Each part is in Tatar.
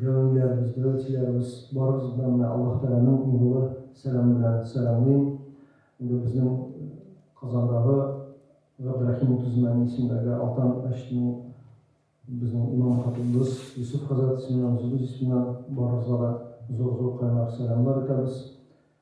Дәвамийләребез, дәвәтчеләребез, барыгызны да менә Аллаһ Тәгаләнең нурлы сәламе белән сәламлыйм. Инде безнең Казандагы Габдрәхим Утызмәни исемендәге Алтан мәчетенең безнең имам-хатыйбыбыз Йосыф хәзрәт исеменнән, үзебез исеменнән барыгызга да зур-зур кайнар сәламнар итәбез.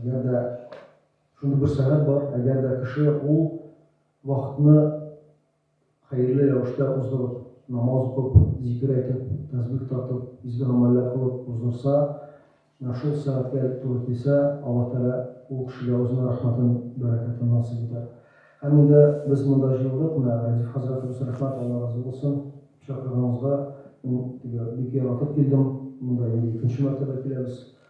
Әгәр дә шундый бер сәгать бар, әгәр дә кеше ул вакытны хәерле рәвештә уздырып, намаз укып, зикер әйтеп, тәсбих тартып, изге гамәлләр кылып уздырса, менә шул сәгатькә туры килсә, Аллаһ Тәгалә ул кешегә үзенең рәхмәтен, бәрәкәтен насыйп итәр. Һәм инде без монда җыелдык, менә Рәдиф хәзрәтебез, рәхмәт, Алла разый булсын, чакырганыгызга мин теге бик яратып килдем, монда инде икенче мәртәбә киләбез.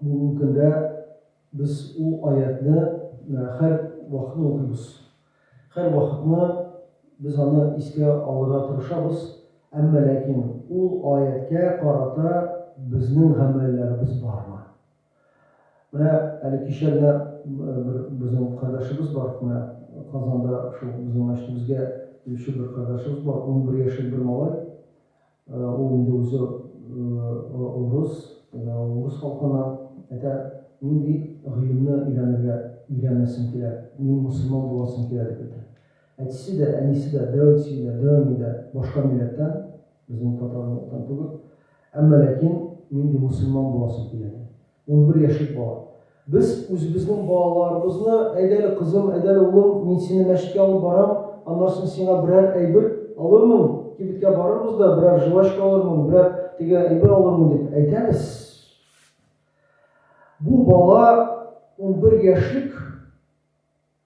Бүгенге көндә без ул аятьне һәр вакытны укыйбыз. Һәр вакытны без аны искә алырга тырышабыз, әмма ләкин ул аятькә карата безнең гамәлләребез бармы? Менә әле кичә генә бер безнең кардәшебез бар, менә Казанда шул безнең мәчетебезгә килүче бер кардәшебез бар, унбер яшьлек бер малай, Ул инде үзе урыс, менә ул урыс халкына әйтә, нинди гыйлемне өйрәнергә, өйрәнәсең килә, мин мөселман буласым килә дип әйтә. Әтисе дә, әнисе дә, дәүнси дә, дәүни дә башка милләттән, безнең татар милләттән түгел, әмма ләкин нинди мөселман буласым килә ди. Унбер яшьлек бала. Без үзебезнең балаларыбызны, Әйдә әле, кызым, әйдә әле, улым, мин сине мәчеткә алып барам, аннан соң сиңа берәр әйбер алырмын, кибеткә барырбыз да, берәр жвачка алырмын, берәр теге әйбер алырмын, дип әйтәбез. Бу бала унбер яшьлек.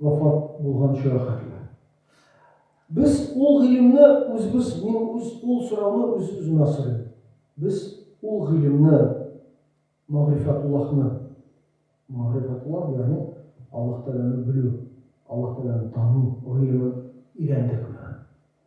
Вафат булган чоры хәтле. Без ул гыйлемне үзебез, мин үз ул сорауны үз-үземә сорыйм. Без ул гыйлемне, Мәгърифәтуллаһны, Мәгърифәтуллаһ, ягъни Аллаһ Тәгаләне белү, Аллаһ Тәгаләне тану гыйлемен өйрәндекме?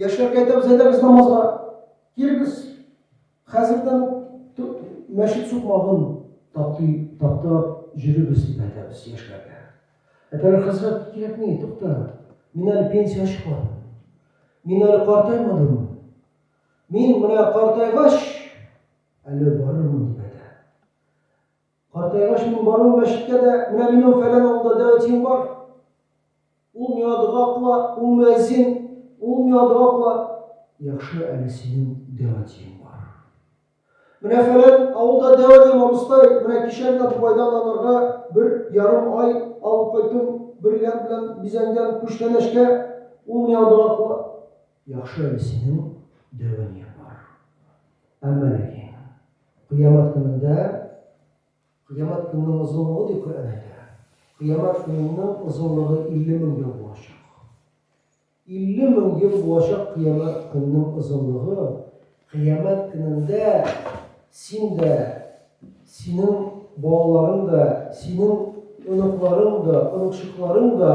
Яшьләр кайтабыз, әйдәгез намазга. Кирегез. Хәзердән мәчет сукмагын тапты, тапты җөребез дип әйтәбез яшьләргә. Әтәләр хәзрәт кирәкми, тукта. Мин әле пенсия чыкмадым. Мин әле картаймадым. Мин менә картайгач әле барырмын дип әйтә. Картайгач мин баруым мәчеткә дә, менә минем фәлән авылда дәвәтием бар, ул миңа дога кыла, ул мөәзин, ул миңа дога кыла. Яхшы әле синең дәвәтиең бар. Менә фәлән авылда дәвәтием, абыстай, менә кичә генә Дубайдан аларга бер ярым ай алып кайттым, бриллиант белән бизәнгән күчтәнәчкә, ул миңа дога кыла. Яхшы әле синең дәвания бар. Әмма ләкин, кыямәт көнендә, кыямәт көненең озынлыгы ди Коръән әйтә, кыямәт көненең озынлыгы 50 мең ел булачак. 50 мең ел булачак кыямәт көненең озынлыгы, кыямәт көнендә син дә, синең балаларың да, синең оныкларың да, оныкчыкларың да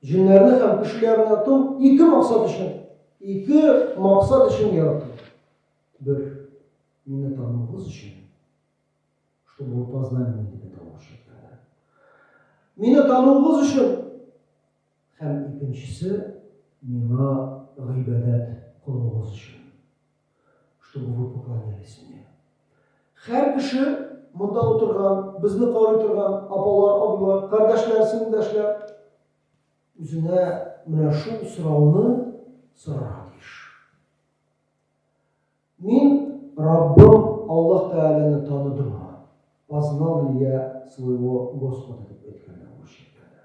Җеннәрне һәм кеше ярату ике максат өчен, ике максат өчен ярату. Бер, мине тануыгыз өчен, чтобы вы познали меня дип әйтәлмәкче икәннәр. Мине тануыгыз өчен һәм икенчесе миңа гыйбадәт кылуыгыз өчен. Чтобы вы поклонялись мне. Хәр кеше, монда утырган, безне карый торган апалар, абыйлар, кардәшләр, сеңелдәшләр, үзенә менә шул сорауны сорарга тиеш. Мин Раббым Аллаһ Тәгаләне таныдыммы? Познал ли я своего Господа дип әйткәндә, урысча әйткәндә.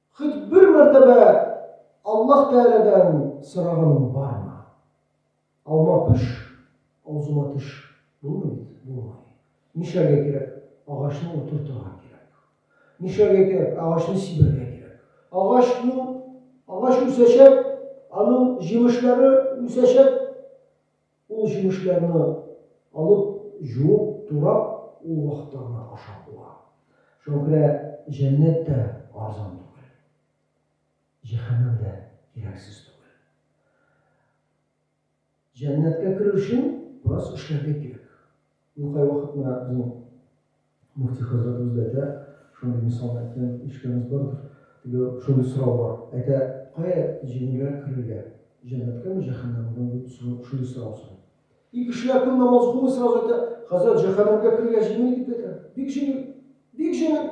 Хоть бер мәртәбә Аллаһ Тәгаләдән сораганың бармы? Алма пеш, авызыма теш, булмый бит, булмый. Нишләргә кирәк? Агачны утыртырга кирәк. Нишләргә кирәк? Агачны сибәргә кирәк. Агачның, агач үсәчәк, аның җимешләре үсәчәк. Ул җимешләрне алып, җуып, турап, ул вакытта гына ашап була. Шуңа күрә җәннәт тә арзан түгел. Җәһәннәм дә кирәксез түгел. Җәннәткә керер өчен бераз эшләргә кирәк. Ул кайвакыт менә безнең мөфти хәзрәтебез дә әйтә, шундый мисалны әйткән ишеткәнегез бардыр, теге шундый сорау бар, әйтә, кая җиңелрәк керергә, җәннәткәме, җәһәннәмгәме, дип шундый сорау сорый. И кешеләр кем намаз укымый, сразу әйтә, хәзрәт, җәһәннәмгә керергә җиңел, дип әйтә. Бик җиңел! Бик җиңел!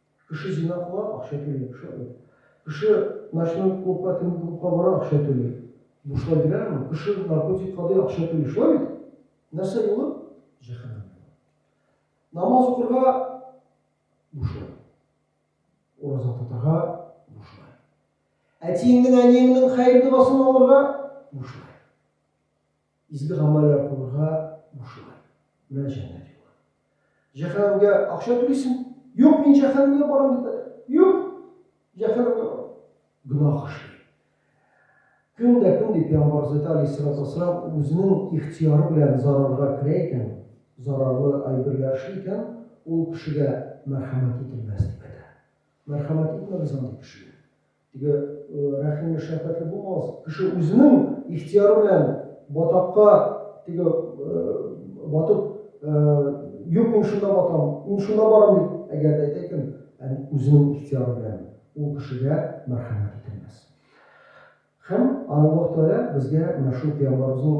Кеше зина кыла, акча түли, шулай бит. Кеше ночной клубка, төнге клубка бара, акча түли. Бушлай бирәләрме? Кеше наркотик кадый, акча түли, шулай бит? Нәрсә юлы? Җәһәннәм юлы. Намаз укырга, бушлай. Ураза тотарга, бушлай. Әтиеңнең, әниеңнең хәер догасын алырга, бушлай. Изге гамәлләр кылырга бушлай. Менә җәннәт юлы. Җәһәннәмгә акча түлисең? Юк, мин җәһәннәмгә барам дип әйтә. Юк, җәһәннәмгә бар. Гөнаһ эшли. Көн дә көн дип пәйгамбар Зәйт алейһиссалату вассалам үзенең ихтияры белән зарарга керә икән, зарарлы әйберләр эшли икән, ул кешегә мәрхәмәт ителмәс дип әйтә. Мәрхәмәт итмәгез андый кешегә. Теге рәхимле, шәфкатьле булмагыз. Кеше үзенең ихтияры белән батакка теге батып, юк, мин шунда батам, мин шунда барам дип, әгәр дә әйтә икән, үзенең ихтияры белән ул кешегә мәрхәмәт ителмәс. Һәм Аллаһ Тәгалә безгә менә шул пәйгамбәребезнең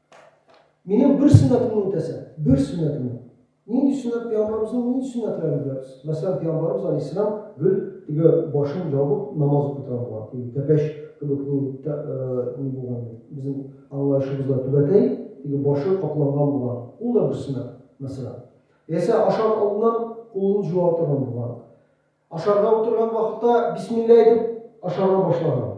Минем бер сөннәтемне үтәсәң, бер сөннәтемне. Нинди сөннәт пәйгамбәребезнең нинди сөннәтләрен беләбез? Мәсәлән, пәйгамбәребез алейһиссәлам гел теге башын ябып намаз укый торган булган. Теге тәпәч кебек ни ни булган иде. Безнең аңлаешыбызда түбәтәй теге башы капланган булган. Ул да бер сөннәт, мәсәлән. Яисә ашар алдыннан кулын җуа торган булган. Ашарга утырган вакытта бисмилла әйтеп ашарга башлаган.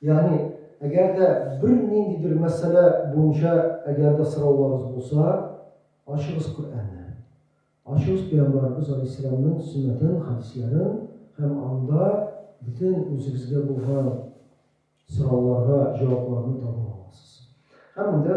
Ягъни, әгәр дә бер ниндидер мәсьәлә буенча әгәр дә сорауларыгыз булса, ачыгыз Коръәнне. Ачыгыз Пәйгамбәребез алейһиссәламнең сөннәтен, хәдисләрен һәм анда бөтен үзегезгә булган сорауларга җавапларны таба аласыз. Һәм инде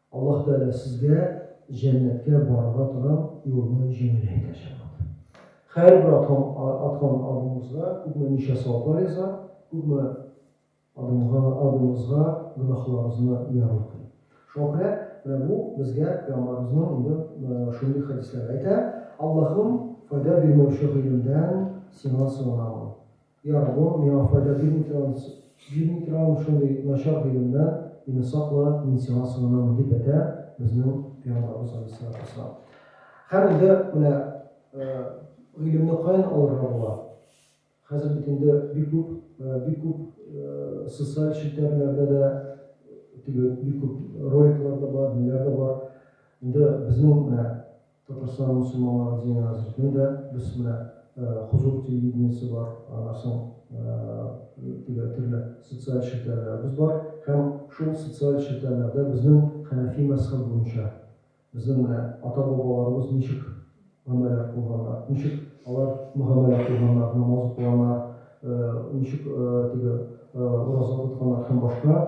Аллаһ Тәгалә сезгә җәннәткә барырга торган юлны җиңел итә, җәмәгать. Һәрбер аткан аткан адымыбызга күпме-ничә саваплар яза, күпме адымга адымыбызга гөнаһларыбызны ярлыкый. Шуңа күрә менә бу безгә Пәйгамбарыбызның инде шундый хәдисләре әйтә, Аллаһым, файда бирмәүче гыйлемдән сиңа сыенам. Ярар, бу миңа файда бирми торган, бирми торган шундый начар гыйлемнән мине сакла, мин сиңа сыенам, дип әйтә безнең пәйгамбәребез галейһиссалату вәссәлам. Һәм инде менә гыйлемне каян алырга була? Хәзер бит инде бик күп, бик күп социаль челтәрләрдә дә теге бик күп роликлар да бар, ниләр дә бар. Инде безнең менә Татарстан мөселманлары динен разрезны дә без менә Хозур телевидениесе бар, аннан соң теге төрле социаль челтәрләребез бар һәм шул социаль челтәрләрдә безнең хәнәфи мәзхәб буенча безнең менә ата-бабаларыбыз ничек гамәлләр кылганнар, ничек алар мөгамәлә кылганнар, намаз укыганнар, ничек теге ураза тотканнар һәм башка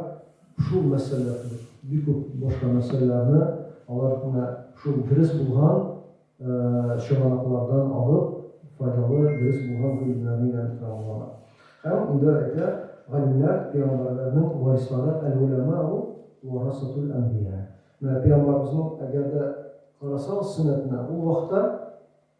Шул мәсьәлә кебек бик күп башка мәсьәләләрне алар менә шул дөрес булган чыганаклардан алып, файдалы, дөрес булган гыйлемнәрне өйрәнеп тора алалар. Һәм инде әйтә, Галимнәр, пәйгамбәрләрнең варислары, әл-уламау варасатул әнбия. Менә пәйгамбарыбызның, әгәр дә карасагыз сөннәтенә, ул вакытта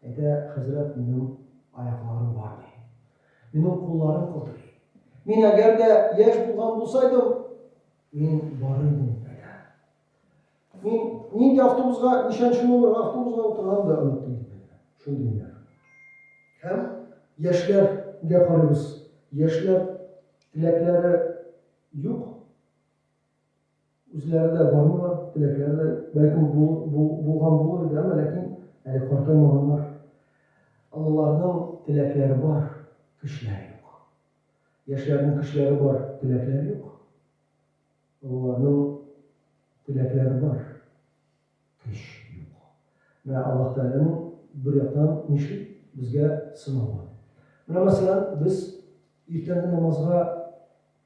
Әйтә, Хәзрәт, минем аякларым бармый. Минем кулларым калтырый. Мин әгәр дә яшь булган булсайдым, мин барыр идем, дип әйтә. Мин нинди автобусга, ничәнче номер автобусга утырган да оныттым, дип әйтә. Шундый миләр. Һәм яшьләргә карыйбыз. Яшьләр теләкләре юк. Үзләре дә бармыйлар, теләкләре дә, бәлкем, булган булыр иде, әмма ләкин әле картаймаганнар. Олыларның теләкләре бар, көчләре юк. Яшьләрнең көчләре бар, теләкләре юк. Олыларның теләкләре бар, көч юк. Менә Аллаһ Тәгаләнең бер яктан нишли? Безгә сынавы. Менә, мәсәлән, без иртәнге намазга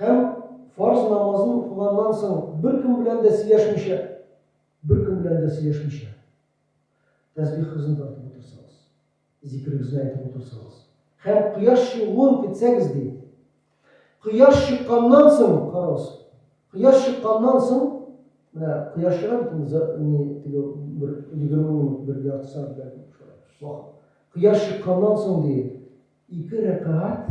Һәм фарз намазын укыганнан соң беркем белән дә сөйләшмичә, беркем белән дә сөйләшмичә, тәсбихыгызны тартып утырсагыз, зикерегезне әйтеп утырсагыз һәм кояш чыгуын көтсәгез, ди. Кояш чыкканнан соң, карагыз, кояш чыкканнан соң, менә кояш чыга бит инде, ни, теге бер егерме минут, бер ярты сәгать бәлки шулай вакыт. Кояш чыкканнан соң, ди, ике рәкәгать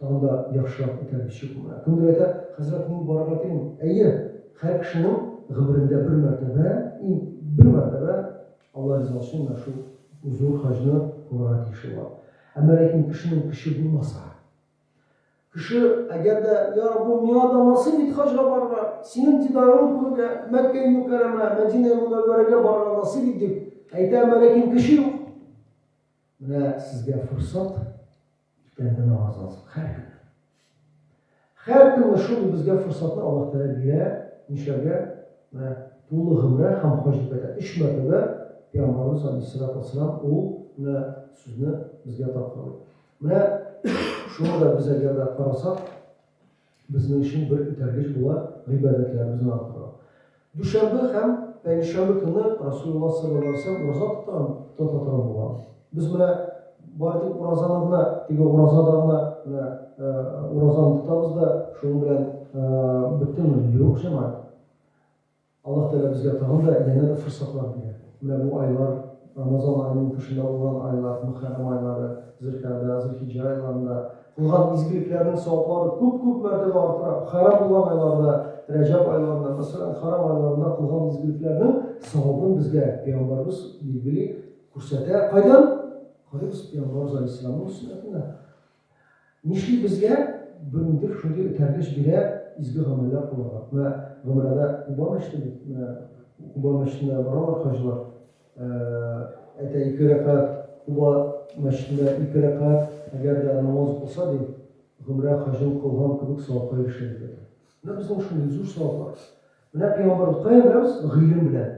Тагын да яхшырак итәрбез чукуны. Кемдер әйтә, Хәзрәт, мин барырга телим. Әйе, һәр кешенең гомерендә бер мәртәбә, и, бер мәртәбә Алла риза өчен менә шул зур хаҗны кылырга тиешле була. Әмма ләкин кешенең көче булмаса. Кеше, әгәр дә, Йа Раббым, миңа да насыйп ит хаҗга барырга, Синең дидарыңны күрергә, Мәккәи Мөкәррәмә, Мәдинәи Мөнәввәрәгә барырга насыйп ит, дип әйтә, әмма ләкин көче юк. Менә сезгә форсат. Иртәннән намаз алсын, хәр көнне. Хәр көнне шундый безгә форсатны Аллаһ Тәгалә бирә, нишләргә? Менә тулы гомрә һәм хаҗ дип әйтә. Өч мәртәбә Пәйгамбәребез Алейһиссалату вассалам ул менә сүзне безгә тапкырлый. Менә шуны да без әгәр дә карасак, Безнең өчен бер этәргеч була гыйбадәтләребезне арттыру. Дүшәмбе һәм пәнҗешәмбе көнне Расулулла саллаллаһу алейһи ва сәлләм ураза тотам, тотатырам булган. Без менә бары тик уразаны гына, теге уразада гына менә уразаны тотабыз да шуның белән беттеме? Юк, җәмәгать. Аллаһ Тәгалә безгә тагын да янә дә форсатлар бирә. Менә бу айлар, Рамазан аеның тышында булган айлар, Мөхәррәм айлары, Зөлкәгъдә, Зөлхиҗҗә айларында кылган изгелекләрнең саваплары күп-күп мәртәбә артыра. Хәрам булган айларда, Рәҗәб айларында, мәсәлән, хәрам айларында кылган изгелекләрнең савабын безгә Пәйгамбәрбез билгели, күрсәтә. Кайдан? Карыйбыз Пәйгамбәрбез галәйһиссәламнең сөннәтеннән. Нишли безгә бөндер шундый этәргеч бирә изге гамәлләр кылырга? Менә гомрәдә кубам эчтебез, менә кубам эчтенә баралар хаҗилар, әйтә ике рәкәгать, куба мәчетендә ике рәкәгать, әгәр дә намаз укылса, ди, гомрә хаҗын кылган кебек савапка ирешә, дип әйтә. Менә безнең шундый зур саваплар. Менә пәйгамбәрбез каян беләбез? Гыйлем белән.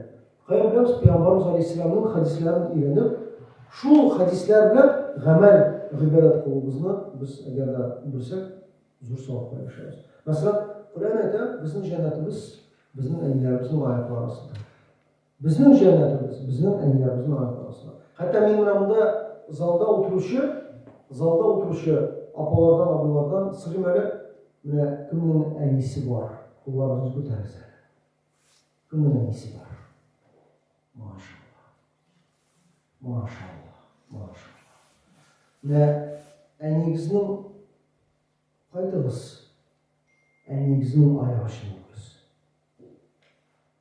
Каян беләбез? Пәйгамбәрбез галәйһиссәламнең хәдисләрен өйрәнеп, шул хәдисләр белән гамәл, гыйбадәт кылуыбызны без әгәр дә белсәк, зур савапка ирешәбез. Мәсәлән, Коръән әйтә, безнең җәннәтебез безнең әниләребезнең аяклары астында. Безнең җәннәтебез, безнең әниләребезнең аяклары астында. Хәтта мин менә монда залда утыручы, залда утыручы апалардан, абыйлардан сорыйм әле, менә кемнең әнисе бар? Кулларыгызны күтәрегез әле. Кемнең әнисе бар? Машалла. Машалла. Машалла. Менә әниегезнең кайтыгыз. Әниегезнең аяк астына үтегез.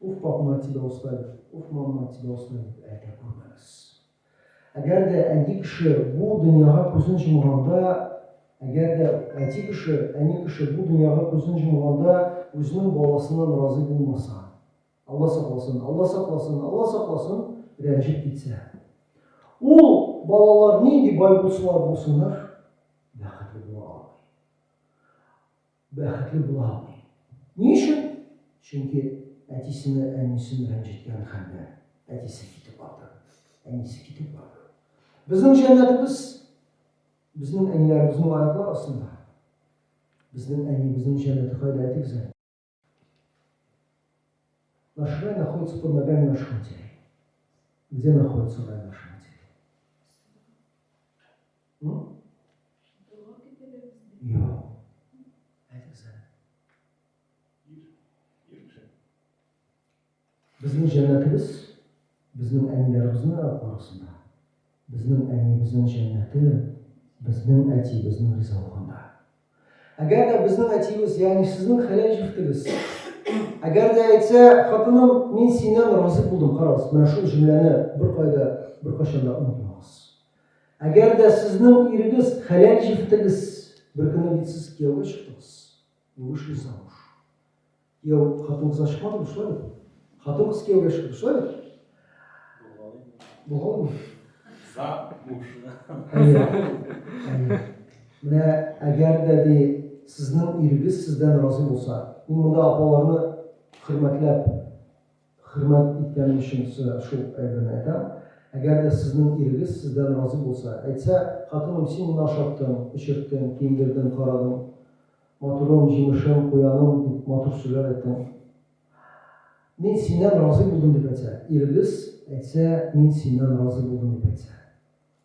Уф, папма тебя оставив, уф, мамма тебя оставив, әйтә күрмәгез. Әгәр дә әни кеше бу дөньяга күзен җомганда, әгәр дә әти кеше, әни кеше бу дөньяга күзен җомганда, үзенең баласыннан разый булмаса, Алла сакласын, Алла сакласын, Алла сакласын, рәнҗеп китсә, ул балалар нинди бай булсалар булсыннар, бәхетле була алмый. Бәхетле була алмый. Ни өчен? Чөнки әтисене, әнисен рәнҗеткән хәлдә әтисе китеп барды, әнисе китеп барды. Безнең җәннәтебез безнең әниләребезнең аяклар астында. Безнең әни, безнең җәннәте кайда әйтегез әле? Наш рай находится под ногами наших матерей. Где находится рай наших матерей? Безнең җәннәтебез безнең әниләребезнең арасында. Безнең әниебезнең җәннәте безнең әтиебезнең ризалыгында. Әгәр дә безнең әтиебез, ягъни сезнең хәләл җефтегез, әгәр дә әйтсә, хатыным, мин синнән разый булдым, карагыз, менә шул җөмләне беркая да, беркайчан да онытмагыз. Әгәр дә сезнең ирегез, хәләл җефтегез, беркөнне бит сез кияүгә чыктыгыз, вышли замуж. Кияү хатынсыз чыкмады бу шулай бит. Хатынсыз кияүгә чыкты шулай бит. Булгалыймы? Замуж. Әйе. Менә әгәр дә ди сезнең ирегез сездән разый булса, мин монда апаларны хөрмәтләп, хөрмәт иткәнем өчен сезгә шул әйберне әйтәм. Әгәр дә сезнең ирегез сездән разый булса, әйтсә, хатыным, син моны ашаттың, эчерттең, киендердең, карадың, Матурым, җимешем, куяным, дип матур сүзләр әйттең. Мин синнән разый булдым дип әйтсә, иребез әйтсә, мин синнән разый булдым дип әйтсә.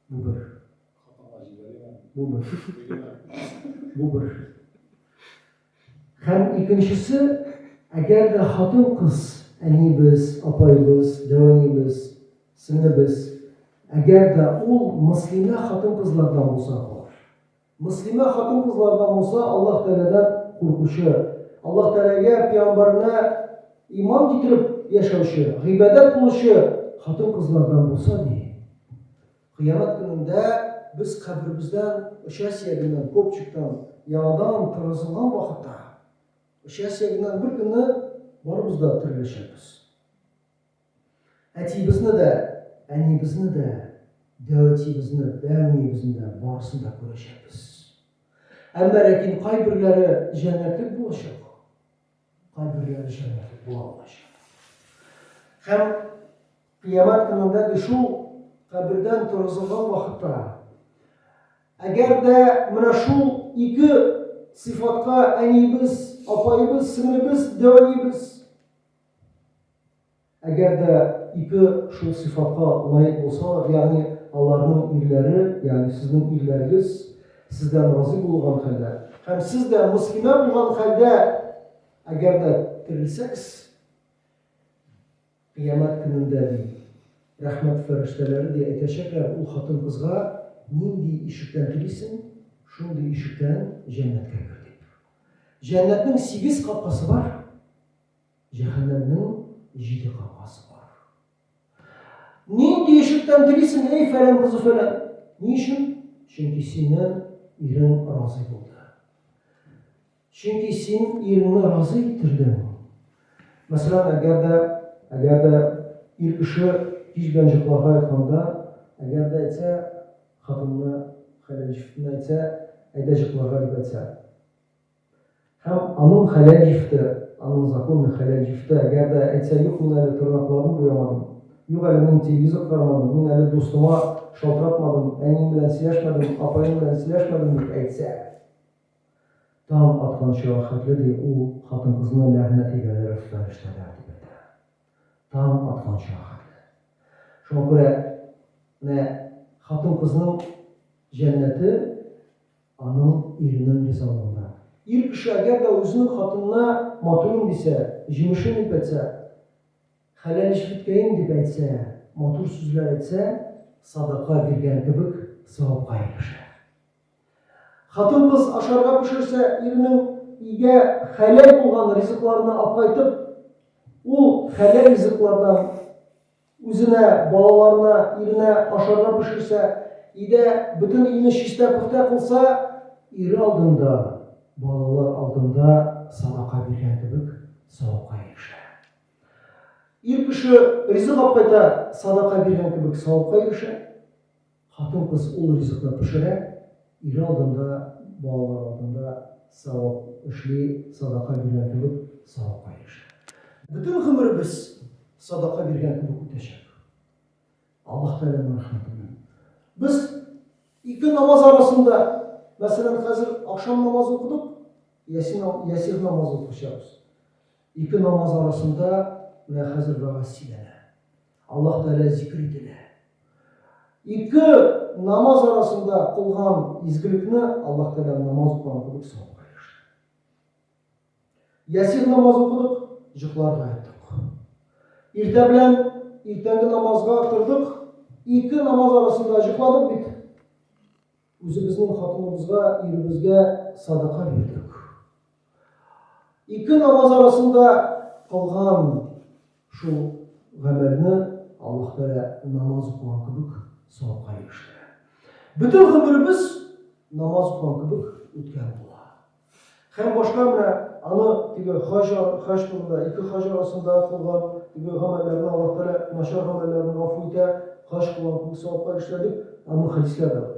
Бу бер. Хатынга җибәрим әле. Бу бер. Бу бер. Һәм икенчесе, әгәр дә хатын-кыз, әнибез, апаебыз, дәвәнибез, сеңлебез, әгәр дә ул мөслимә хатын-кызлардан булса, хор. Мөслимә хатын-кызларына Муса Аллаһ Тәгаләдән куркучы, Аллаһ Тәгаләгә, пиамбарына иман китереп яшәүче, гыйбадәт кылучы хатын-кызлардан булса, ди, Кыямәт көнендә без каберебездән оча сөягеннән, копчиктан, яңадан кыргызылган вакытта, оча сөягеннән бер көнне барыбыз да тереләчәкбез. Әтиебезне дә, әниебезне дә, дәүәтиебезне, дәүниебезне дә, барысын да күрәчәкбез. Әмма ләкин кайберләре җәннәтлек булачак, кайберләре җәннәтлек була алмаячак. Һәм кыямәт көнендә дә шул кабердән торгызылган вакытта, әгәр дә менә шул ике сыйфатка әниебез, апаебыз, сеңлебез, дәүәниебез, Әгәр дә ике шул сыйфатка лаек булсалар, ягъни аларның ирләре, ягъни сезнең ирләрегез сездән разый булган хәлдә, һәм сез дә мөслимә булган хәлдә әгәр дә терелсәгез, кыямәт көнендә, ди, рәхмәт фәрештәләре, ди, әйтәчәкләр ул хатын-кызга, Нинди ишектән телисең, шундый ишектән җәннәткә кер, дип. Җәннәтнең сигез капкасы бар. Җәһәннәмнең җиде капкасы бар. Нинди ишектән телисең, эй фәлән кызы фәлән? Ни өчен? Чөнки сине ирең разый булды. Чөнки син иреңне разый иттердең. Мәсәлән, әгәр дә, әгәр дә ир кеше кич белән йокларга ятканда, әгәр дә әйтсә, хатынына, хәләл ишетенә әйтсә, әйдә йокларга дип әйтсә, Һәм аның хәләл җифте, аның законный хәләл җифте, әгәр дә, әйтсә, юк, мин әле тырнакларын буямадым, юк әле, мин телевизор карамадым, мин әле дустыма шалтыратмадым, әнием белән сөйләшмәдем, апаем белән сөйләшмәдем, дип әйтсә, таң атканчыга хәтле, ди, ул хатын-кызны ләгънәт иләләр өстә өләштерәләр, дип әйтә. Таң атканчыга хәтле. Шуңа күрә, менә хатын-кызның җәннәте Аның иренең ризалыгында. Ир кеше әгәр дә үзенең хатынына матурым дисә, җимешем дип әйтсә, хәләл эшлекләем дип әйтсә, матур сүзләр әйтсә, садака биргән кебек савапка ирешә. Хатын-кыз ашарга пешерсә, иренең өйгә хәләл булган ризыкларны апкайтып, ул хәләл ризыклардан Үзенә, балаларына, иренә ашарга пешерсә, өйдә бөтен өйне чистә-пөхтә кылса, ире алдында, балалар алдында садака биргән кебек савапка ирешә. Ир кеше ризык апкайта садака биргән кебек савапка ирешә. Хатын-кыз ул ризыкны пешерә, ире алдында, балалар алдында савап эшли, садака биргән кебек савапка ирешә. Бөтен гомеребез садака биргән кебек үтәчәк. Аллаһ Тәгаләнең рәхмәте белән. Без ике намаз арасында, мәсәлән, хәзер ахшам намазы укыдык, ясин ясир намазы укычабыз. Ике намаз арасында менә хәзер вәгазь сөйләнә. Аллаһ Тәгалә зикер ителә. Ике намаз арасында кылган изгелекне Аллаһ Тәгалә намаз укыган кебек савапка ирештерә. Ясир намаз укыдык, җыкларга яттык. Иртә белән иртәнге намазга тордык, ике намаз арасында җыкладык бит. Үзебезнең хатыныбызга, иребезгә садака бирдек. Ике намаз арасында кылган шул гамәлне Аллаһ Тәгалә намаз укыган кебек савапка ирештерә. Бөтен гомеребез намаз укыган кебек үткән була. Һәм башка менә аны теге хаҗ хаҗ турында ике хаҗ арасында кылган теге гамәлләрне Аллаһ Тәгалә начар гамәлләрне гафу итә, хаҗ кылган кебек савапка ирештерә дип аның хәдисләре бар.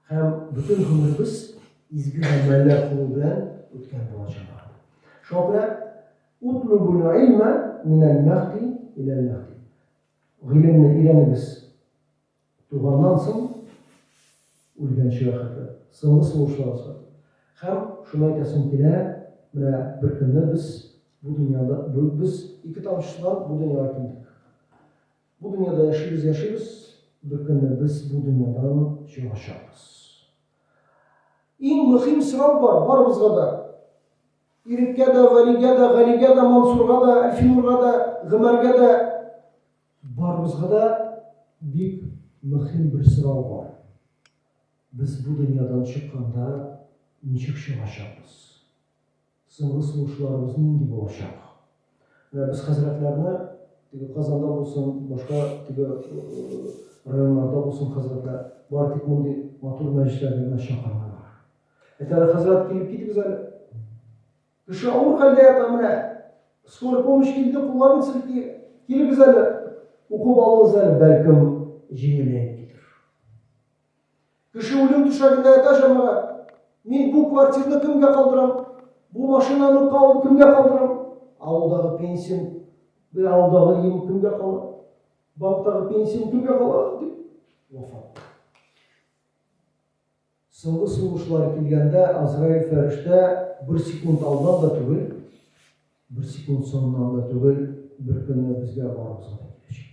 Һәм бөтен гомеребез изге гамәлләр кылу белән үткән булачак. Шуңа күрә утлубул илма минәл мәхди иләл мәхди. Гыйлемне өйрәнегез туганнан соң үлгәнчегә хәтле, соңгы сулышларыгызга. Һәм шуны әйтәсем килә, менә бер көнне без бу дөньяда, без ике тамчы судан бу дөньяга килдек. Бу дөньяда яшибез, яшибез, бер көнне без бу дөньядан чыгачакбыз. Иң мөхим сорау бар барыбызга да. Иреккә дә, Вәлигә дә, Галигә дә, Мансурга да, Әлфинурга да, Гомәргә дә барыбызга да бик мөхим бер сорау бар. Без бу дөньядан чыкканда ничек чыгачакбыз? Соңгы сулышларыбыз нинди булачак? Менә без хәзрәтләрне, теге Казанда булсын, башка теге районнарда булсын хәзрәтләр, бары тик мондый матур мәҗлесләргә генә чакырмыйлар. Әйтәләр, хәзрәт, килеп китегез әле. Кеше авыр хәлдә ята, менә скорый помощь килде, кулларын селти, килегез әле, укып алыгыз әле, бәлкем, җиңеләеп китер. Кеше үлем түшәгендә ята, җәмәгать. Мин бу квартирны кемгә калдырам? Бу машинаны кал, кемгә калдырам? Авылдагы пенсиям, бе авылдагы өем кемгә кала? Банктагы пенсиям кемгә кала? дип вафат. Соңгы сулышлар килгәндә Азраил фәрештә бер секунд алдан да түгел, бер секунд соңыннан да түгел, бер көнне безгә барыбызга да киләчәк.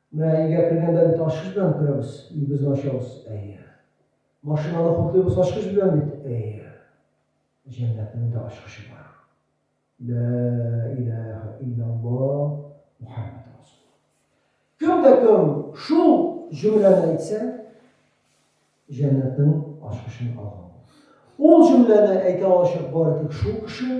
Менә өйгә кергәндә бит ачкыч белән керәбез, өебезне ачабыз, әйе. Машинаны хутлыйбыз ачкыч белән бит, әйе. Җәннәтнең дә ачкычы бар. Лә иләһә иллялла Мухаммәд расул. Кем дә кем шул җөмләне әйтсә, җәннәтнең ачкычын алган булыр. Ул җөмләне әйтә алачак бары тик шул кеше,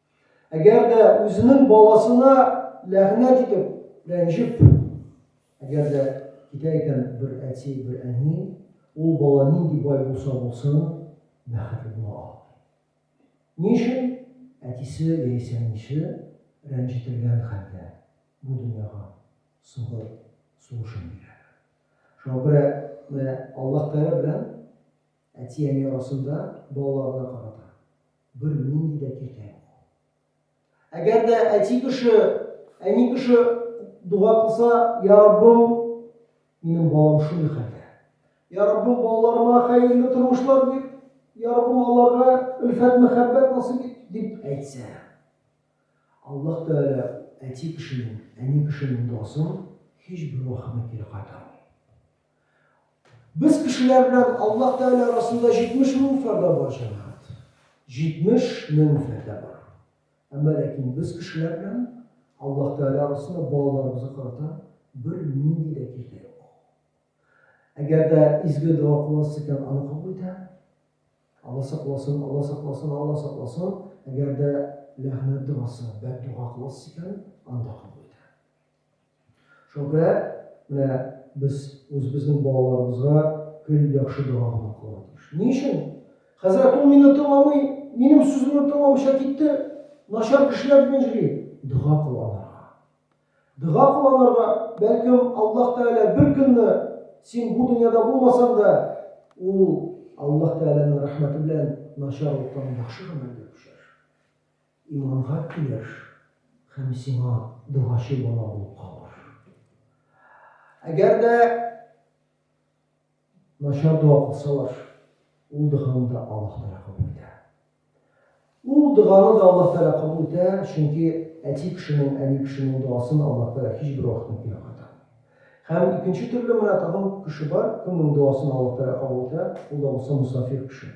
Әгәр дә үзенең баласына ләгънәт итеп, рәнҗеп, әгәр дә китә икән бер әти, бер әни, ул бала нинди бай булса булсын, бәхетле була алмый. Ни өчен? Әтисе яисә әнисе рәнҗетелгән хәлдә бу дөньяга сугыр сулышын бирәләр. Шуңа күрә менә Аллаһ Тәгалә белән Әти-әни арасында балаларына карата бернинди дә киртә юк. Әгәр дә әти кеше, әни кеше дуга кылса, я Раббым, минем балам шундый хәлдә. Я Раббым, балаларыма хәерле тормышлар бир, я Раббым, аларга өлфәт мәхәббәт насыйп ит, дип әйтсә. Аллаһ Тәгалә әти кешенең, әни кешенең дуасын һичбер вакытта кире кайтармый. Без кешеләр белән Аллаһ Тәгалә арасында 70 мең фәрдә бар, җәмәгать. 70 мең фәрдә бар. Әмма ләкин без кешеләр белән Аллаһ Тәгалә арасында балаларыбызга карата бер нинди дә киртә юк. Әгәр дә изге дога кыласыз икән, аны кабул итә. Алла сакласын, Алла сакласын, Алла сакласын. Әгәр дә ләгънәт догасы, бәддога кыласыз икән, анда кабул итә. Шуңа күрә менә без үзебезнең балаларыбызга гел яхшы дога гына кылырга тиеш. Ни өчен? Хәзрәт, ул мине тыңламый, минем сүземне тыңламыйча китте, начар кешеләр белән йөри. Дога кыланырга. Дога кыланырга, бәлкем, Аллаһ Тәгалә бер көнне син бу дөньяда булмасаң да, ул Аллаһ Тәгаләнең рәхмәте белән начарлыктан яхшы гамәлгә күчерер. Иманга килер һәм сиңа догачы бала булып калыр. Әгәр дә начар дога кылсалар, ул доганы да Аллаһ Тәгалә кабул итә. Ул доганы да Аллаһ Тәгалә кабул итә, чөнки әти кешенең, әби кешенең догасын Аллаһ Тәгалә һичбер вакытта кире кайтармый. Һәм икенче төрле менә тагын кеше бар, кемнең догасын Аллаһ Тәгалә кабул итә, ул да булса мосафир кеше.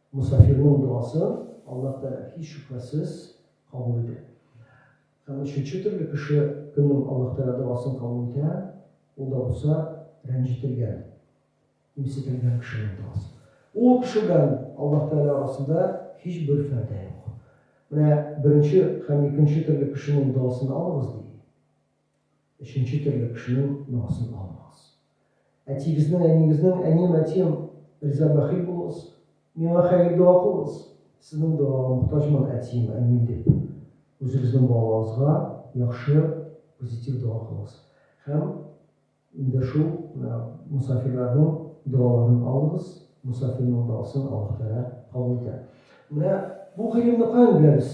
Мосафирның догасын Аллаһ Тәгалә, һич шөбһәсез, кабул итә. Һәм өченче төрле кеше кемнең Аллаһ Тәгалә догасын кабул итә, ул да булса рәнҗетелгән, кимсетелгән кешенең догасы. Ул кеше белән Аллаһ Тәгалә арасында һичбер фәрдә юк. Менә беренче һәм икенче төрле кешенең догасын алыгыз, ди. Өченче төрле кешенең ногасын алмагыз. Әтигезнең, әниегезнең, әнием, әтием, риза бәхил булыгыз, миңа хәер дога кылыгыз, сезнең догага мохтаҗмын, әтием, әнием, дип, үзегезнең балаларыгызга яхшы, позитив дога кылыгыз. Һәм инде шул менә мосафирларның догаларын алыгыз, мосафирның догасын Аллаһ Тәгалә кабул итә. Менә бу гыйлемне каян беләбез?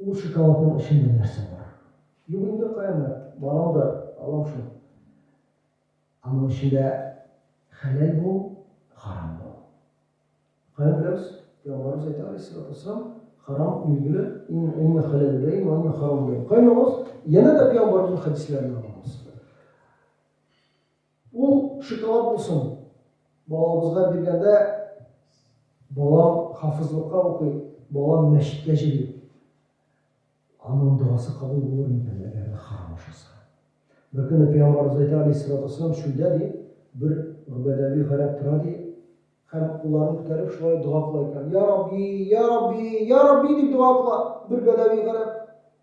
Ул шоколадның эчендә нәрсә бар? Юк инде, каенат, барамдыр, алам шул. Аның эчендә хәләл бул, харам бул. Каян беләбез? Пәйгамбәребез әйтә, алейһиссалату вәссәлам, харам билгеле, ин инна хәләл беләйин вә инна харам беләйин. Каян алабыз? Янә дә пәйгамбәребезнең хәдисләреннән алабыз. Ул шоколад булсын, балабызга биргәндә, балам хафизлыкка укый, балам мәчеткә җыри, аның догасы кабул булыр микән, әгәр дә харам ашаса? Беркөнне пәйгамбарыбыз әйтә, алейһиссалату уассалам, чүлдә, ди, бер гөбәдәви гарәп тора, ди, һәм кулларын күтәреп шулай дога кыла икән, Йә Рабби, йә Рабби, йә Рабби дип дога кыла бер бәдәви гарәп.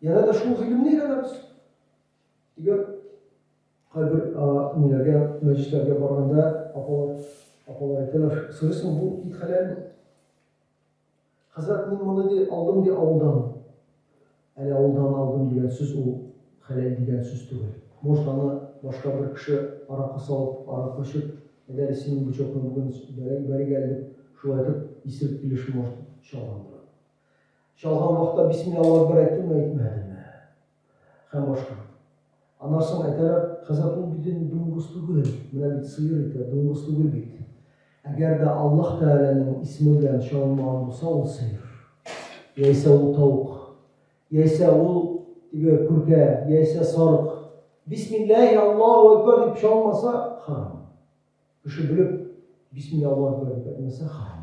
Яна да шул гыйлемне өйрәнәбез. Дигән кайбер ниләргә, мәҗлесләргә барганда апалар, апалар әйтәләр, сорыйсың, бу ит хәләлме? Хәзрәт, мин моны ди алдым ди авылдан. Әле авылдан алдым дигән сүз ул хәләл дигән сүз түгел. Может, аны башка бер кеше аракы салып, аракы эчеп, әгәр синең бычокны бүген бәрик әле дип, шулай итеп исерек килеш, может, чалгандыр аны. Чалган вакытта бисмилла Аллаһу әкбәр әйттеңме, әйтмәдеңме? Һәм башка. Аннан соң әйтәләр, хәзрәт, ул бит инде дуңгыз түгел, менә бит сыер ите, дуңгыз түгел бит. Әгәр дә Аллаһ Тәгаләнең исеме белән чалынмаган булса, ул сыер. Яисә ул тавык. Яисә ул теге күркә, яисә сарык. Бисмиллаһи Аллаһу әкбәр дип чалмаса, харам. Кеше белеп бисмилла Аллаһу әкбәр дип әйтмәсә, харам.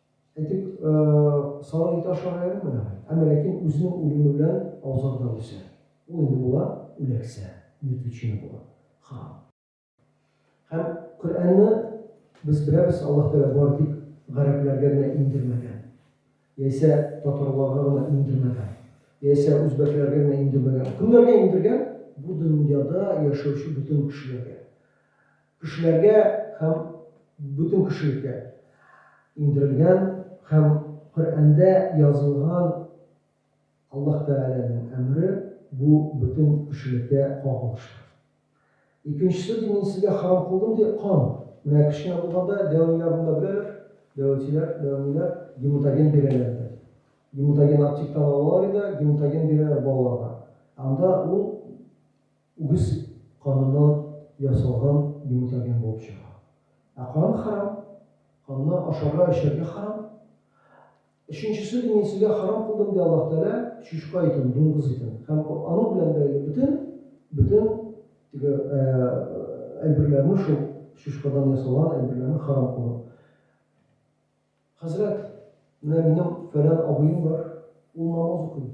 Әйтик, сарык ите ашарга ярамый әле. Әмма ләкин үзенең үлеме белән аузарда үсә. Ул инде була, үләксә, мертвечина була. Харам. Һәм Коръәнне, без беләбез, Аллаһ Тәгалә бары тик гарәпләргә генә иңдермәгән. Яисә татарларга гына иңдермәгән. Яисә үзбәкләргә генә иңдермәгән. Кемнәргә иңдергән? Бу дөньяда яшәүче бөтен кешеләргә. Кешеләргә һәм бөтен кешелеккә иңдерелгән һәм Коръәндә язылган Аллаһ Тәгаләнең әмере бу бөтен кешелеккә кагылышлы. Икенчесе ди, мин сезгә харам кылдым, ди, кан. Менә кечкенә булганда дәвамилар монда беләләр, дәватиләр, дәвамиләр, гематоген бирәләр иде. Гематоген аптектан алалар иде, гематоген бирәләр балаларга. Анда ул үгез каныннан ясалган йомытаген булып чыга. Ә кан хәрам, канны ашарга, эчәргә хәрам. Өченчесе, ди, мин сезгә хәрам кылдым, ди Аллаһ Тәгалә, чучка итен, дуңгыз итен һәм аның белән бәйле бөтен, бөтен теге әйберләрне, шул чучкадан ясалган әйберләрне хәрам кылдым. Хәзрәт, менә минем фәлән абыем бар, ул намаз укый,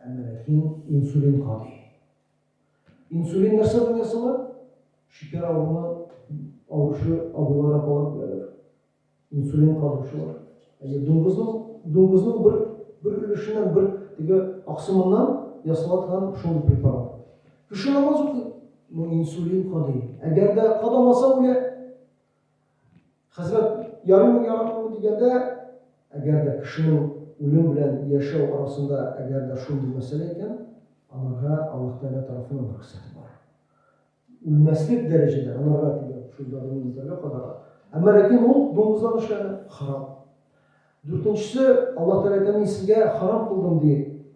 әмма ләкин инсулин кадый. Инсулин нәрсә белән ясала? Шикәр авыруына авыручы абыйлар, апалар беләләр. Инсулин кадыучылар. Әйе, дуңгызның дуңгызның бер бер өлешеннән, бер теге аксымыннан ясала торган шундый препарат. Кеше намаз укый, но инсулин кадый. Әгәр дә кадамаса үлә. Хәзрәт, ярыймы, ярамыймы дигәндә, әгәр дә кешенең үлем белән яшәү арасында әгәр дә шундый мәсьәлә икән, анарга Аллаһ Тәгалә тарафыннан рөхсәт бар. Үлмәслек дәрәҗәдә анарга дигән шул даруны эзләргә кадала. Әмма ләкин ул дуңгыздан эшләнә, харам. Дүртенчесе, Аллаһ Тәгалә әйтә, мин сезгә харам кылдым, ди,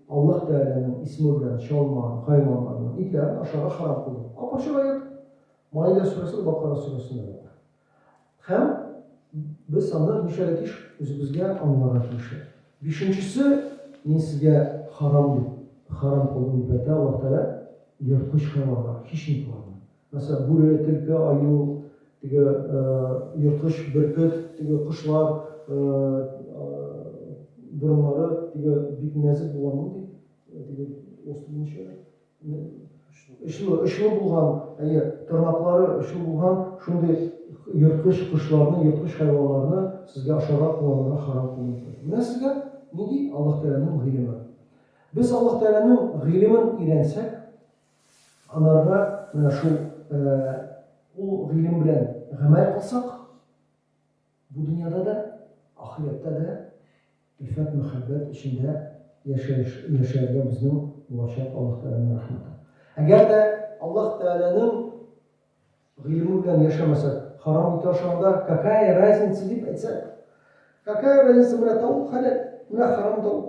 Аллаһ Тәгаләнең исеме белән чалма, хайваннарның итләрен ашарга харам кылдым. Ап-ачык аять. Маида сүрәсе дә, Бакара сүрәсендә дә бар. Һәм без аны нишәргә тиеш? Үзебезгә аңларга тиеш. Бишенчесе, мин сезгә харам дип, харам кылдым дип әйтә Аллаһ Тәгалә, ерткыч хайваннар, хищникларны. Мәсәлән, бүре, телке, аю, теге ерткыч, бөркет, теге кошлар, борыннары, теге бик нәзек булган нинди, теге острый нишә, Очлы, очлы булган, әйе, тырнаклары очлы булган шундый ерткыч кошларны, ерткыч хайваннарны сезгә ашарга, кулланырга харам кылынды. Менә сезгә нинди Аллаһ Тәгаләнең гыйлеме. Без Аллаһ Тәгаләнең гыйлемен өйрәнсәк, анарга менә шул ул гыйлем белән гамәл кылсак, Бу дөньяда да, ахирәттә дә ифәк мәхәббәт эчендә яшәеш яшәргә безнең булачак Аллаһ Тәгаләнең рәхмәте. Әгәр дә Аллаһ Тәгаләнең гыйлеме белән яшәмәсәк, харам ите ашаганда какая разница дип әйтсәк, какая разница, менә тавык хәләл, менә харам тавык.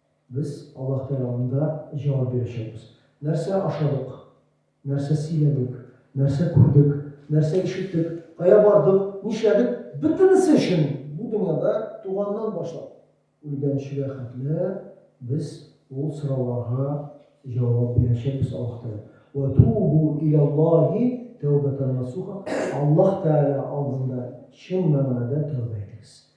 Без Аллаһ Тәгалә алдында җавап бирәчәкбез. Нәрсә ашадык? Нәрсә сөйләдек? Нәрсә күрдек? Нәрсә ишеттек? Кая бардык? Нишләдек? Бөтенесе өчен бу дөньяда туганнан башлап, үлгәнчегә хәтле без ул сорауларга җавап бирәчәкбез Аллаһ Тәгалә. Вә тубу иләллаһи тәүбәтән насуха Аллаһ Тәгалә алдында чын мәгънәдә тәүбә итегез.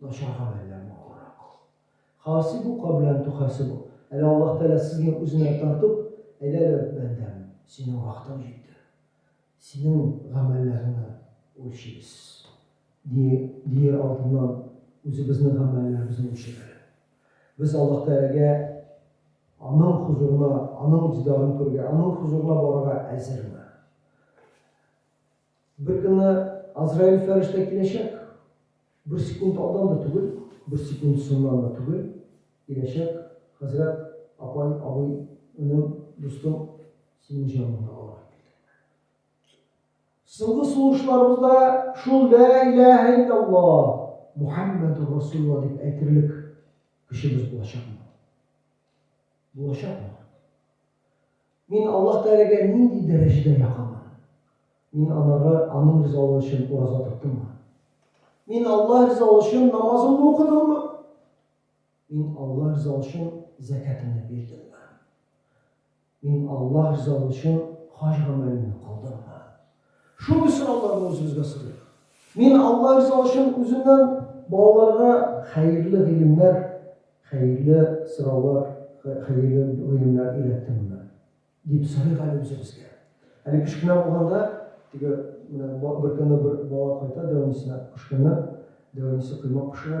Начар гамәлләр матуррак. Хаасибука белән тухасибу. Әле Аллаһ Тәгалә сезне үзенә тартып, әйдәле, бәндәм, синең вакытың җитте. Синең гамәлләреңне үлчибез. Ди, диер алдыннан үзебезнең гамәлләребезне үлчәп әле. Без Аллаһ Тәгаләгә Аның хозурына, Аның дидарын күрергә, Аның хозурына барырга әзерме? Бер көнне Азраил фәрештә киләчәк. Бер секунд алдан да түгел, бер секунд соңнан да түгел, киләчәк, Хәзрәт, апай, абый, энем, дустым, синең җаныңны алырга килдем. Соңгы сулышларыбызда шул Лә иләһә илляллаһ, Мухаммәдур Расулла дип әйтерлек көчебез булачакмы? Булачакмы? Мин Аллаһ Тәгаләгә нинди дәрәҗәдә якынмын? Мин анарга, Аның ризалыгы өчен ураза тоттыммы? Мин Аллаһ ризалыгы өчен намазымны укыдыммы? Мин Аллаһ ризалыгы өчен зәкәтемне бирдемме? Мин Аллаһ ризалыгы өчен хаҗ гамәлене кылдыммы? Шундый сорауларны үзебезгә сорыйк. Мин Алла ризалыгы өчен үземнән балаларга хәерле гыйлемнәр, хәерле сораулар, хәерле гыйлемнәр өйрәттемме? дип сорыйк әле үзебезгә. Әле кечкенә булганда, теге менә беркөнне бер бала кайта дәвамисенә кычканнан, дәвамисе коймак пешерә.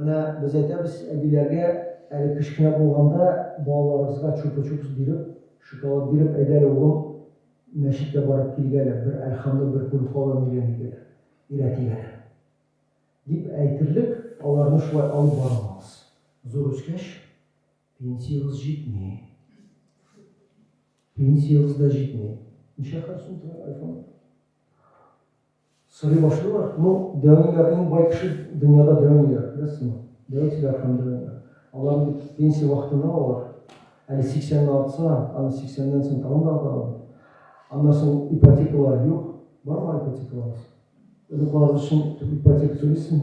Менә без әйтәбез әбиләргә, әле кечкенә булганда балаларыбызга чупа-чупс биреп, шоколад биреп, әйдә әле, улым, мәчеткә барып килик әле, бер Әлхамны бер күреп калган икәнбит әле, өйрәтик әле, дип әйтерлек, аларны шулай алып бара алабыз. Зур үскәч, пенсиягез җитми. Пенсиягез дә җитми. Ничә хәл сум тора айфон? Сорый башлыйлар, Ну, дәваньгар иң бай кеше дөньяда дәваньгар, күрәсеңме? Дәватьләр һәм дәваньгар. Алар бит пенсия вакытында алар. Әле сиксәнне атса, аны сиксәннән соң тагын да аталар бит. Аннан соң ипотекалар юк. Бармы ипотекаларыбыз? Оныкларыбыз өчен ипотека түлисең.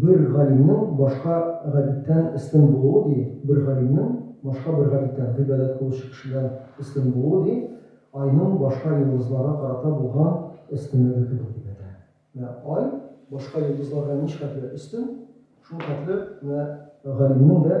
Бер галимнең башка габидтән өстен булуы, ди, бер галимнең башка бер габидтән, гыйбадәт кылучы кешедән өстен булуы, ди, айның башка йолдызларга карата булган өстенлеге кебек, дип әйтә. Менә ай башка йолдызларга ничхәтле өстен, шулхәтле менә галимнең дә.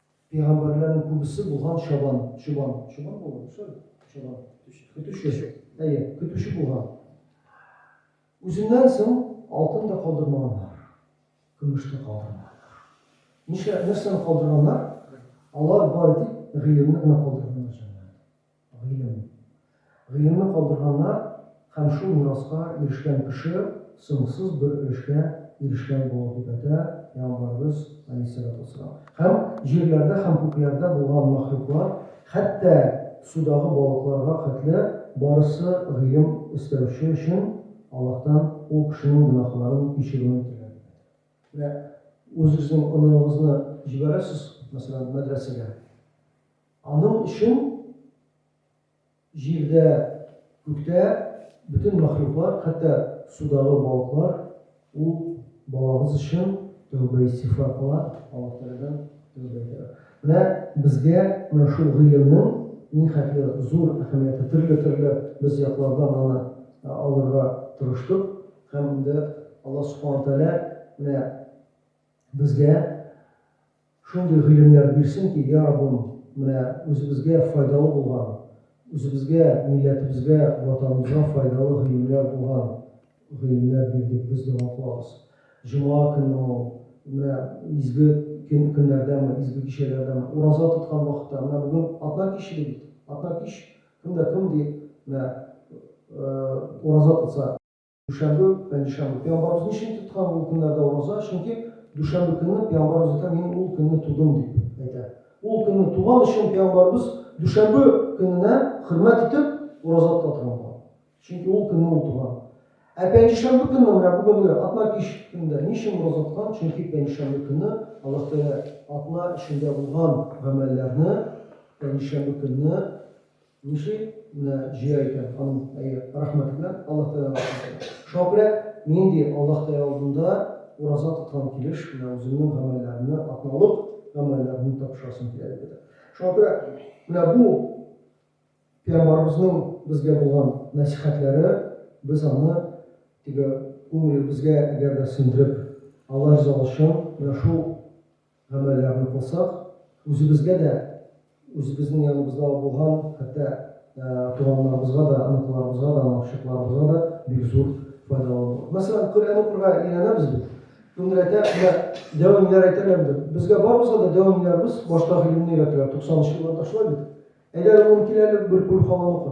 Пигамбәрләрнең күбесе булган чабан, чубан, чубан булган, дөрес әле? Чабан. Көтүче. Әйе, көтүче булган. Үзеннән соң алтын да калдырмаганнар, көмеш тә калдырмаганнар. Нишлә нәрсәне калдырганнар? Алар бары тик гыйлемне генә калдырганнар җәмәгать. Гыйлем. Гыйлемне калдырганнар һәм шул мираска ирешкән кеше соңсыз бер өлешкә ирешкән була дип әйтә Пәйгамбәребез, галәйһиссәлату вәссәлам. Һәм җирләрдә һәм күкләрдә булган мәхлуклар, хәтта судагы балыкларга хәтле, барысы гыйлем эстәүче өчен Аллаһтан ул кешенең гөнаһларын кичерүен теләр дип әйтә. Менә үзегезнең оныгыгызны җибәрәсез, мәсәлән, мәдрәсәгә. Аның өчен җирдә, күктә бөтен мәхлуклар, хәтта судагы балыклар, ул балагыз өчен тәүбә-истигъфар кыла, Аллаһ Тәгаләдән тәүбә итә. Менә безгә менә шул гыйлемнең нихәтле зур әһәмияте, төрле-төрле без яклардан аны алырга тырыштык һәм инде Аллаһ Субхана Тәгалә менә безгә Шундый гыйлемнәр бирсен ки, йа Раббым, менә үзебезгә файдалы булган, үзебезгә, милләтебезгә, Ватаныбызга файдалы гыйлемнәр булган гыйлемнәр бир дип без дога кылабыз. Җома көнеме ул, менә изге көн, көннәрдәме, изге кичәләрдәме, ураза тоткан вакытта, менә бүген атна кич иде бит, атна кич, кем дә кем ди, менә ураза тотса, Дүшәмбе пәнҗешәмбе. Пәйгамбарыбыз ни өчен тоткан ул көннәрдә ураза? Чөнки дүшәмбе көнне Пәйгамбарыбыз әйтә, Мин ул көнне тудым, дип әйтә. Ул көнне туган өчен Пәйгамбарыбыз дүшәмбе көненә хөрмәт итеп, ураза тота торган булган. Чөнки ул көнне ул туган. Ә пәнҗешәмбе көнне, менә бүгенге атна кич көнендә ни өчен ураза тоткан? Чөнки пәнҗешәмбе көнне Аллаһ Тәгалә атна эчендә булган гамәлләрне пәнҗешәмбе көнне Ничек менә җыя икән ханым, әйе, рәхмәт генә Аллаһ Тәгалә алдында. Шуңа күрә мин ди Аллаһ Тәгалә алдында ураза тоткан килеш менә үземнең гамәлләремне, атналык гамәлләремне тапшырасым килә, дип әйтә. Шуңа күрә менә бу Пәйгамбарыбызның безгә булган нәсыйхәтләре, без аны теге күңелебезгә әгәр дә сеңдереп, Алла ризалыгы өчен менә шул гамәлләрне кылсак, үзебезгә дә, үзебезнең яныбызда булган, хәтта туганнарыбызга да, оныкларыбызга да, онык-чыкларыбызга да бик зур файдалы булыр. Мәсәлән, Коръән укырга өйрәнәбез бит. Кемдер әйтә, менә дәвамиләр әйтәме инде, безгә барыбызга да дәвамиләребез башта гыйлемне өйрәтәләр, 90 нчы елларда шулай бит. Әйдә әле, улым, кил әле, бер көлү халаны укы.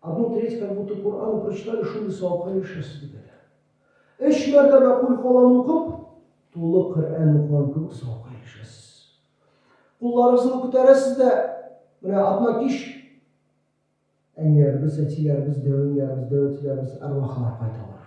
Абу Трейс как будто Коръәнны прочитали шундый савапка ирешәсез дип әйтә. Өч мәртәбә Куль Һуалланы укып, тулы Коръән укыган кебек савапка ирешәсез. Кулларыгызны күтәрәсез дә, менә атна кич әниләребез, әтиләребез, дәү әниләребез, дәү әтиләребез, әрвахлар кайталар.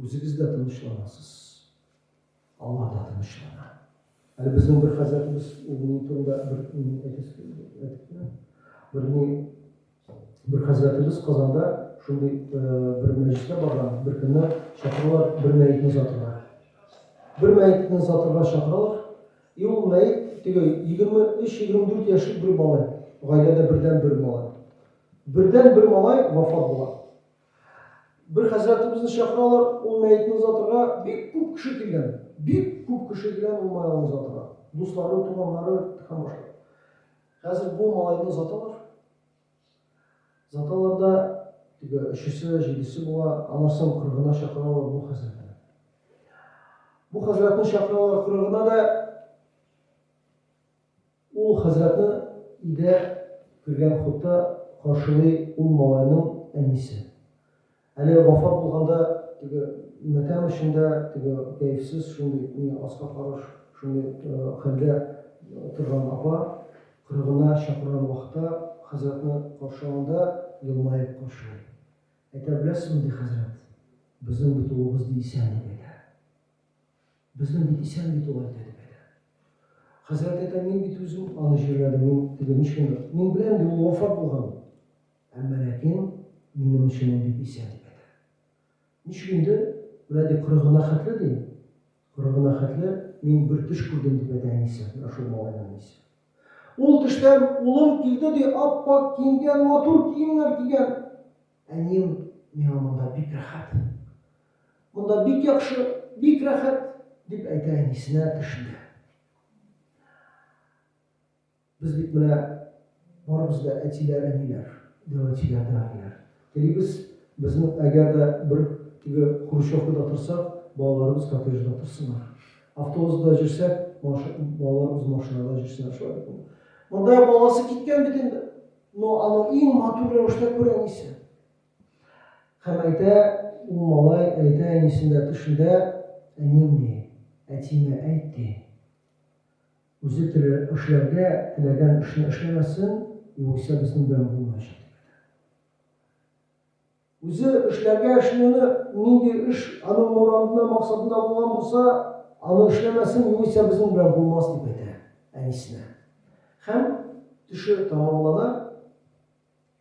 Үзегез дә тынычланасыз, алар да тынычлана. Әле безнең бер хәзрәтебез ул ни турында бер әйтәсе әйтте. Бер ни бер хәзрәтебез Казанда шундый бер мәҗлескә барган, бер көнне чакыралар бер мәетне озатырга. Бер мәетне озатырга чакыралар. И ул мәет теге 23-24 яшьлек бер малай, гаиләдә бердән бер малай. Бердән бер малай вафат була. Бер хәзрәтебезне чакыралар, ул мәетне озатырга, бик күп кеше килгән. Бик күп кеше килгән ул маен озатырга. Дуслары, туганнары һәм башка. Хәзер бу малайны озаталар. Озаталар да, теге өчесе, җидесе була, аннан кырыгына чакыралар бу хәзрәтне. Бу хәзрәтне чакыралар кырыгына да, Ул хәзрәтне өйдә кергән хутта каршылый ул малайның әнисе. Әле вафат булганда теге матәм эчендә, теге кәефсез, шундый ни аска караш, шундый хәлдә торган апа кырыгына чакырган вакытта хәзрәтне каршылаганда елмаеп каршылый. Әйтә беләсезме, ди хәзрәт, безнең бит улыбыз, ди, исән, дип әйтә. Безнең бит исән бит ул әйтә дип әйтә. Хәзрәт әйтә, мин бит үзем аны җирләдем, мин теге ничкендер. Мин беләм ди, ул вафат булган. Әмма ләкин минем өчен ул бит исән дип әйтә. Ничек инде, менә ди кырыгына хәтле ди, кырыгына хәтле мин бер төш күрдем дип әйтә әнисе, менә шул малайның әнисе. Ул төштән улым килде ди, ап-ак киенгән, матур киемнәр кигән. Әнием, миңа монда бик рәхәт. Монда бик яхшы, бик рәхәт, дип әйтә әнисенә төшендә. Без бит менә барыбыз да әтиләр, әниләр, дәвәтиләр, дәвәниләр. Телибез, безнең әгәр дә бер теге хрущевкада торсак, балаларыбыз коттеджда торсыннар. Автобусда җөрсәк, балаларыбыз машинада җөрсеннәр. Шулай бит инде. Монда баласы киткән бит инде. Но аны иң матур рәвештә күр әнисе. Хәм әйтә ул малай, әйтә әнисендә төшендә, Әним ни, әтиемә әйт ди. Үзе теле эшләргә теләгән эшне эшләмәсен, югыйсә безнең белән булмаячак дип әйтә. Үзе эшләргә эшли-ны, нинди эш аның морадына, максатына булган булса, аны эшләмәсен, югыйсә безнең белән булмас, дип әйтә әнисенә. Хәм төше тамамлана.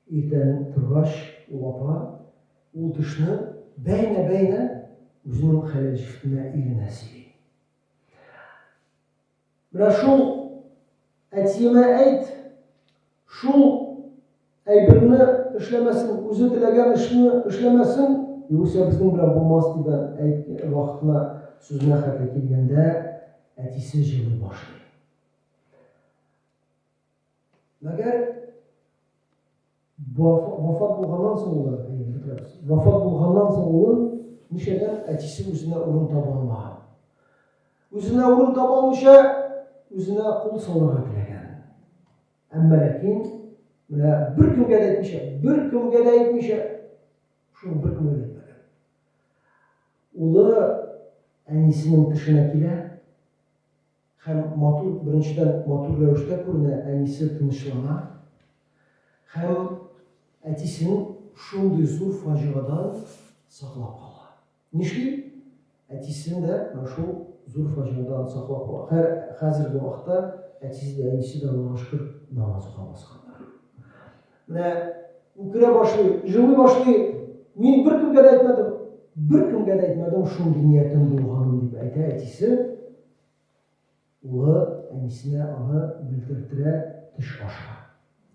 Иртән торгач, ул апа ул төшне бәйнә-бәйнә үзенең хәләл җефтенә, иренә сөйли. Менә шул әтиемә әйт, шул әйберне эшләмәсен, үзе теләгән эшне эшләмәсен, югыйсә безнең белән булмас, дип әйткән вакытына сүзенә хәтле килгәндә, әтисе җылый башлый. Мәгәр вафат булганнан соң улы, вафат булганнан соң улы ничәдән әтисе үзенә урын таба алмаган. Үзенә урын таба алмыйча, үзенә кул салырга теләгән. Әмма ләкин менә бер кемгә дә әйтмичә, бер кемгә дә әйтмичә, шул бер кемгә дә әйтмәгән. Улы әнисенең тешенә килә, Һәм матур, беренчедән, матур рәвештә күренә, әнисе тынычлана. Һәм әтисен шундый зур фаҗигадан саклап кала. Нишли? Әтисен дә менә шул зур фаҗигадан саклап кала. Хә, хәзерге вакытта әтисе дә, әнисе дә, Аллага шөкер, намаз укый башлаганнар. Менә үкерә башлый, җылый башлый, Мин беркемгә дә әйтмәдем. Беркемгә дә әйтмәдем шундый ниятем булганын, дип әйтә әтисе. Улы әнисенә аны белдердерә, төш аша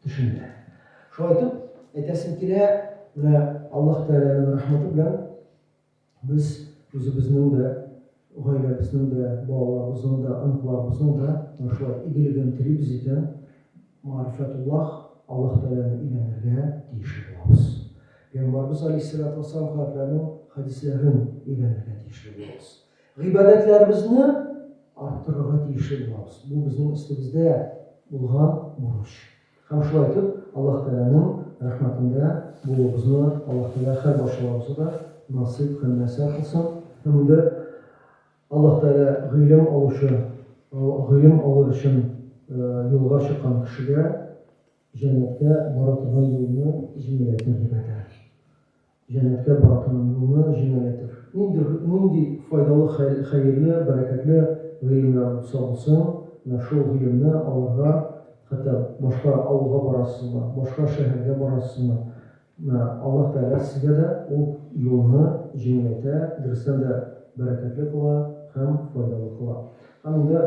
төшендерә. Шулай итеп, әйтәсем килә, менә Аллаһ Тәгаләнең рәхмәте белән без үзебезнең дә, гаиләбезнең дә, балаларыбызның да, оныкларыбызның да менә шулай игелеген телибез икән, Маарифәтуллаһ, Аллаһ Тәгаләне өйрәнергә тиешле булабыз. Пәйгамбәрбез Галәйһиссәлату вәссәлам хәзрәтләренең хәдисләрен өйрәнергә тиешле булабыз. Гыйбадәтләребезне арттырырга тиешле булабыз. Бу безнең өстебездә булган бурыч. Һәм шулай итеп, Аллаһ Тәгаләнең рәхмәтендә булуыбызны Аллаһ Тәгалә һәр барчаларыбызга да насыйп һәм мияссәр кылсын. Һәм инде Аллаһ Тәгалә гыйлем алучы, гыйлем алыр өчен юлга чыккан кешегә җәннәткә бара торган юлны җиңеләйтер дип әйтә. Җәннәткә бара торган юлны җиңеләйтер. Нинди, нинди файдалы, хәерле, бәрәкәтле гыйлемнәр булса булсын, менә шул гыйлемне алырга, хәтта башка авылга барасызмы, башка шәһәргә барасызмы, менә Аллаһ Тәгалә сезгә дә ул юлны җиңеләйтә, дөрестән дә бәрәкәтле кыла һәм файдалы кыла. Һәм инде.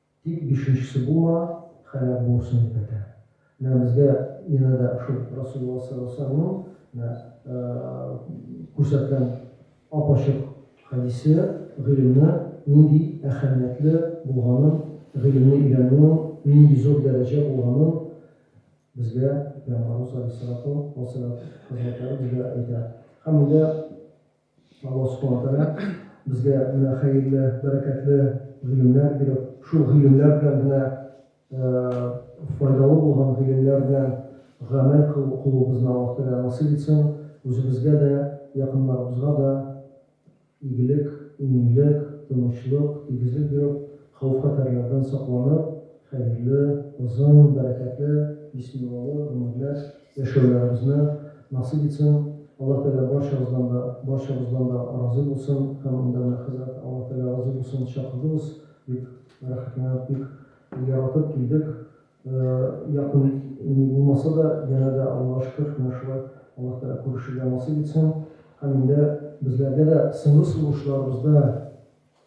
Тик бишенчесе булма, һәлак булырсың, дип әйтә. Менә безгә янә дә шул Расулулла саллаллаһу алейһи ва сәлләмнең менә күрсәткән ап-ачык хәдисе гыйлемне нинди әһәмиятле булганын, гыйлемне өйрәнүнең нинди зур дәрәҗә булганын безгә Пәйгамбарыбыз алейһиссалату ва сәләм хәзрәтләре безгә әйтә. Һәм монда. Алла Субхана Тәгалә безгә менә хәерле, бәрәкәтле гыйлемнәр биреп, шул гыйлемнәр белән генә файдалы булган гыйлемнәр белән гамәл кылуыбызны Аллаһ Тәгалә насыйп итсен, үзебезгә дә, якыннарыбызга да игелек, иминлек, тынычлык, тигезлек биреп, хәүф-хәтәрләрдән сакланып, Хәерле, озын, бәрәкәтле, бисмиллалы гомерләр яшәүләрегезне насыйп итсен, Аллаһ Тәгалә барчагыздан да, барчабыздан да разый булсын һәм монда менә хәзрәт Аллаһ Тәгалә разый булсын чакырдыгыз, бик рәхәтләнеп, бик яратып килдек, якын ни булмаса да, янә дә Аллага шөкер, менә шулай Аллаһ Тәгалә күрешергә насыйп итсен һәм инде безләргә дә соңгы сулышларыбызда,